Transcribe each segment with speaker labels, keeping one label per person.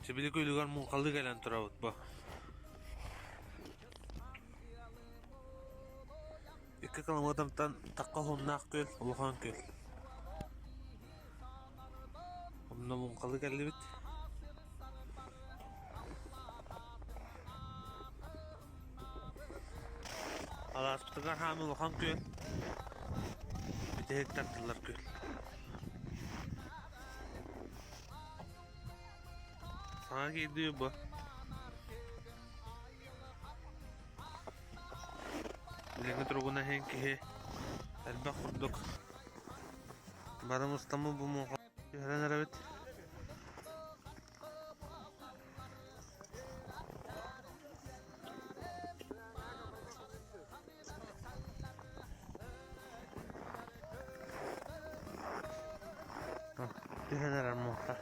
Speaker 1: Сибилик үлүгэр муҥхалы кэлэн турабыт бу. Икки километртан такка хуннаах күл, улахан күл. Онно муҥхалы кэллибит. Алааспытыгар хаамыы улахан күн. Бүтэһик тардыллар күн. Саҥа киирдии бу. Илиҥи туругуна иһин киһи элбэх курдук. Бары мустамы бу муҥха түһэрэн эрэбит. Түһэн эрэр муоста.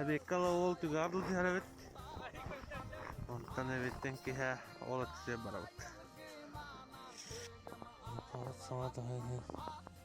Speaker 1: Эбиэккэ ала уол түгэҕэр түһэр эбит. Онтон эбиттэн киһэ ол ыксыа барабыт. Саҥа тоһы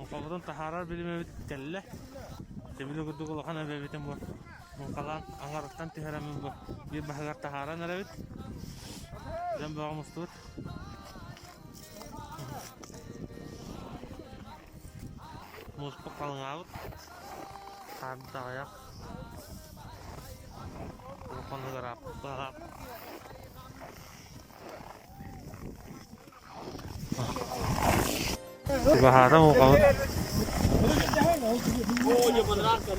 Speaker 1: Муҥхабытын таһаарар билимэбит кэллэ. Тимили курдук улахан эбэбитин бу муҥхалаан аҥарыттан түһэрэмин бу биир баһыгар таһааран эрэбит. Дэн бөҕө мустубут. Мууспут халыҥаабыт. Хаарда аҕыйах. Улахан ыгыраап. Чугаһаатым укаһыт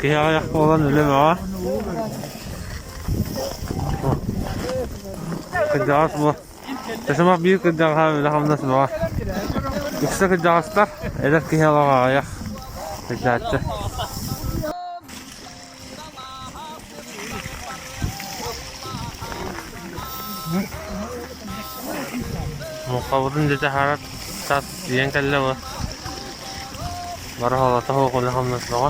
Speaker 1: Киһи аҕыйах буолан үлэ-бөҕө Кырдьаҕас бу Ташымах биир кырдьаҕаһа үлэ-хамнас бөҕө Үксэ кырдьаҕастар эдэр киһи олох аҕыйах Кырдьааччы Муохабытын дьэ таһаарат тат тиийэн кэллэ бу бары холото хоокуле хамнатмаҕа